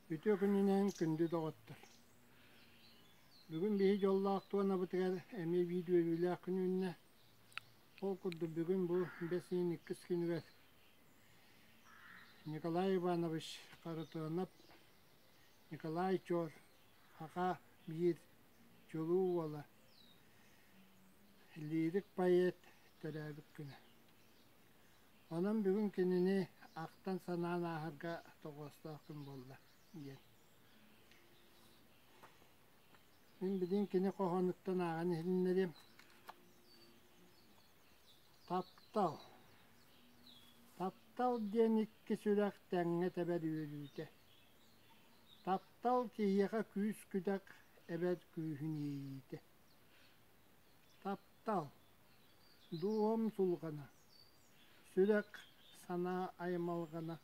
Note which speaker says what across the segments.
Speaker 1: Үтүө күнүнэн күндү доҕоттор! Бүгүн биһи дьоллоох туонабытыгар эмиэ биидьүөрүүлээх күн үүннэ. Ол курдук бүгүн бу бэс ыйын иккис күнүгэр Николай Иванович Харытыанап, Николай Чоор, аха биир чулуу уола, лиирик-поэт, төрөөбүт күнэ. Онон бүгүн кинини ахтан-санаан ааһарга тоҕоостоох күн буолла диэн. Мин билин кини хоһоонуттан ааҕан иһиннэриэм. Таптал Таптал диэн икки сүрэх тэҥҥэ тэбэр үөлүүтэ. Таптал киһиэхэ күүс-күдэх, эбэр күүһүн иэйиитэ. Таптал – дууһам сулҕана – Сүрэх, санаа аймалҕана.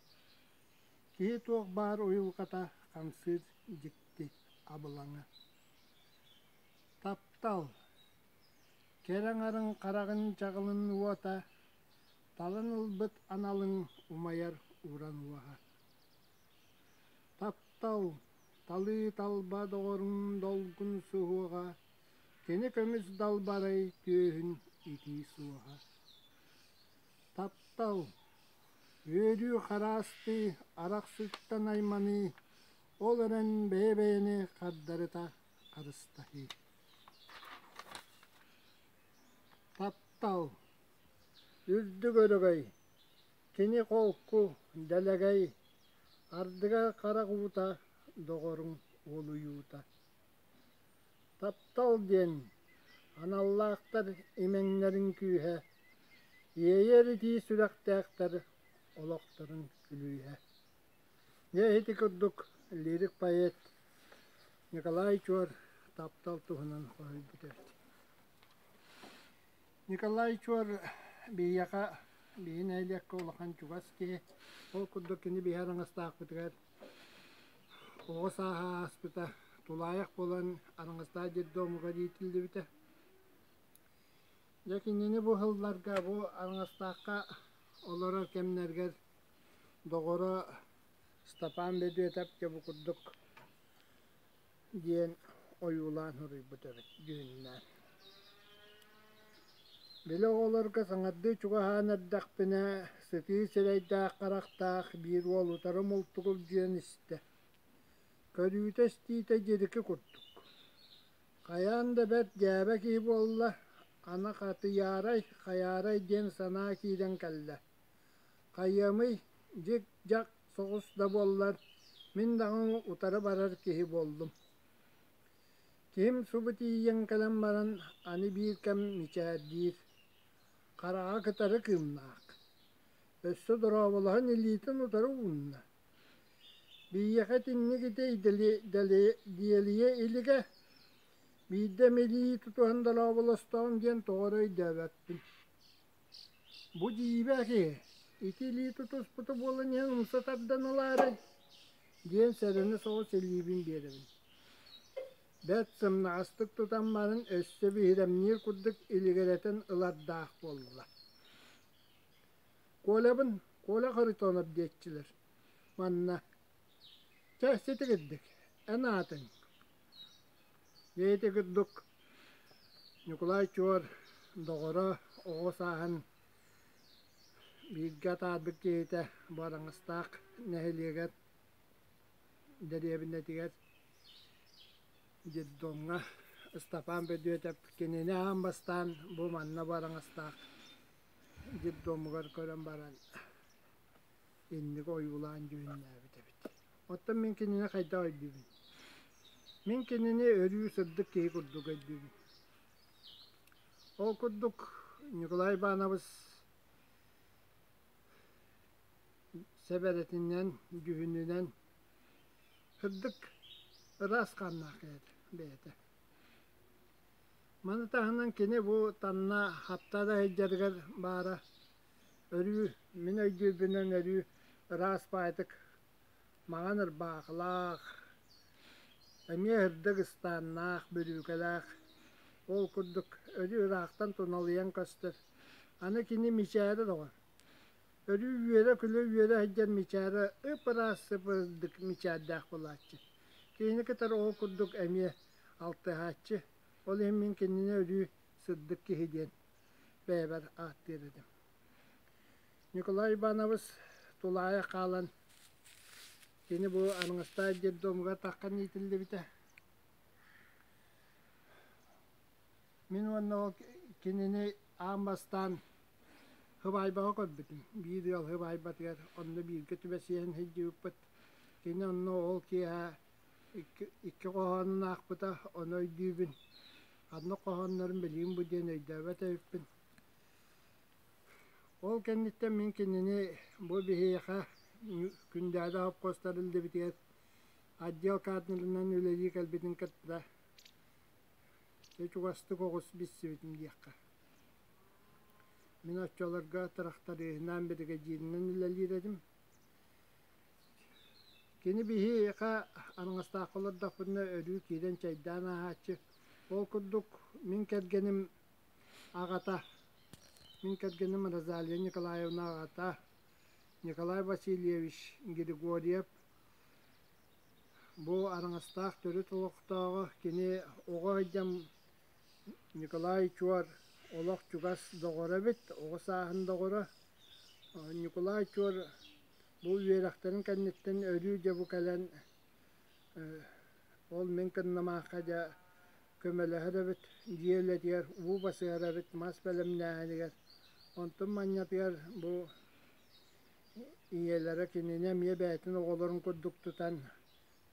Speaker 1: Киһи туох баар уйулҕата хамсыыр дьикти абылаҥа. Таптал, кэрэ аҥарын хараҕын дьаҕылын уота, талан ылбыт аналыҥ умайар уран уоһа. Таптал, талыы талба доҕоруҥ долгун суһуоҕа, Кини көмүс далбарай түөһүн итии суоһа Таптал, үөрүү-хараастыы, арахсыттан айманыы ол эрэн бэйэ-бэйэни хардарыта харыстаһыы Таптал, үрдүк өрөгөй, кини холку, дэлэгэй, ардыгар харах уута, доҕоруҥ уолуйуута Таптал диэн аналлаахтар имэҥнэрин күүһэ, иэйэр итии сүрэхтээхтэр олохторун күлүүһэ. Дьэ ити курдук лирик-поэт Николай Чуор таптал туһунан хоһуйбута эбит. Николай Чуор биһиэхэ биһи нэһилиэккэ улахан чугас киһи. Ол курдук кини биһи араҥастаахпытыгар Оҕо сааһа ааспыта, тулаайах буолан араҥастаах детдомҥа омуга иитиллибитэ. Дьэ кинини бу сылларга бу Араҥастаахха олорор кэмнэргэр доҕоро Ыстапаан Бөдүөтэп дьэ бу курдук диэн ойуулаан суруйбут эбит дьүһүннээн. Били оҕолорго саҥардыы чугаһаан эрдэхпинэ, сытыы сирэйдээх-харахтаах биир уол утары мултугур диэн истэ. Көрүүтэ-истиитэ дьирики курдук. Хайаан да бэрт дьээбэ киһи буолла, аны хатыйаарай, хайаарай диэн санаа киирэн кэллэ. Хайыамый, дьик-дьак соҕус да буоллар, мин даҕаны утары барар киһи буоллум. Киһим субу тиийэн кэлэн баран аны биир кэм мичээрдиир. Хараҕа кытары кыымнаах. Өссө дорооболоһон илиитин утары уунна. Биһиэхэ итинник итэй дали, дали, диэлийэ илигэ, биирдэ эмилии тутуһан дорооболостоҕум диэн тоҕо өйдөөбөппүн Бу дьиибэги ити илии тутуспута буолан иһэн умса тардан ылаарай? диэн сэрэнэ соҕус илиибин биэрэбин. Бэрт сымнаҕастык тутан баран өссө биһирэмниир курдук илигирэтэн ылардаах буолла. Колябын Коля Харитонов диэччилэр манна Чэ, ситигирдик, эн аатыҥ? Бэйэтэ курдук Ньукулай Чуор доҕоро, оҕо сааһын бииргэ атаарбыт киһитэ Бараҥастаах нэһилиэгэр дэриэбинэтигэр детдомҥа Ыстапаан Бөдүөтэп кинини аан бастаан бу манна Бараҥастаах детдомугар көрөн баран инниги ойуулаан дьүһүннээбит эбит. Оттон мин кинини хайдах өйдүүбүн? Мин кинини өрүү сырдык киһи курдук өйдүүбүн. Ол курдук Ньукулай Ивановыс сэбэрэтинэн, дьүһүнүнэн сырдык ыраас хааннаах бэйэтэ. Маны таһынан кини бу танна хапта да сылдьарыгар баара Өрүү, мин өйдүүрбүнэн өрүү ыраас баайдык, маҥан ырбаахылаах, эмиэ ырдык ыстааннаах, бүрүүкэлээх, ол курдук өрүү ыраахтан туналыйан көстөр, аны кини мичээрэ доҕор. Өрүү үөрэ-күлэ-үөрэ сылдьар мичээрэ ып-ыраас сып-ырдык мичээрдээх буолааччы. Киһини кытары ол курдук эмиэ алтыһааччы, ол иһин мин кинини өрүү сырдык киһи диэн бэйэбэр ааттыыр этим. Николай Иванович тулаайа хаалан кини бу Арыҥастаай детдомугар таххан иитиллибитэ. Мин уонна ол кинини аан бастаан Хыбайбаҕа көрбүтүм. Биир ыал Хыбайбатыгар онно бииргэ түбэсиэн сылдьыбыппыт. Кини онно ол киэһэ икки икки хоһоонун аахпыта, ону өйдүүбүн. Ханна хоһооннорун билиим бу диэн өйдөөбөт эбиппин. Ол кэнниттэн мин кинини бу биһиэхэ Күндээдэ холкуостар илдибитигэр отдел каадырынан үлэлии кэлбитин кытта чугастык оҕус билсибитим диэххэ. Мин оччолорго тырахтарыыһынаан биригэдьииринэн үлэлиир этим. Кини биһиэхэ араҥастаахха олордохпутуна өрүү киирэн чайдаан ааһааччы. Ол курдук мин кэргэним аҕата, мин кэргэним Розалия Николаевна аҕата Николай Васильевич Григорьев бу араҥастаах төрүт олохтооҕо, кини оҕо айдьам Николай Чуор олох чугас доҕоро эбит, оҕо сааһын доҕоро. Николай Чуор Бу үөрэхтэрин кэнниттэн өрүү дьэ бу кэлэн ол мин кыннымаахха дьэ көмөлөһөр эбит дьиэ үлэтигэр уу басыһар эбит мас бэлэмнээһинигэр онтун манньатыгар бу ийэлэрэ кинини эмиэ бэйэтин оҕолорун курдук тутан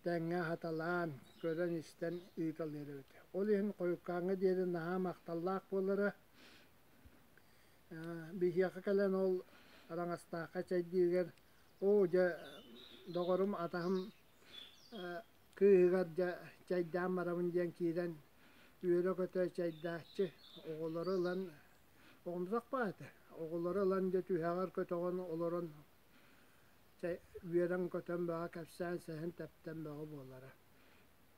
Speaker 1: тэҥҥэ хаталаан көрөн-истэн ыыталыыр эбит ол иһин хойуккааҥҥа диэри наһаа махталлаах буолара Биһиэхэ кэлэн ол Араҥастаахха чэйдиигэр оо дьэ доҕорум атаһым кыыһыгар дьэ чэйдээн барабын диэн киирэн үөрэ-көтө чэйдээччи оҕолору ылан оҕомсох баҕата оҕолору ылан дьэ түһэҕэр көтөҕөн олорон чэй үөрэн-көтөн бөҕө кэпсээн сэһэн тэптэн бөҕө буолара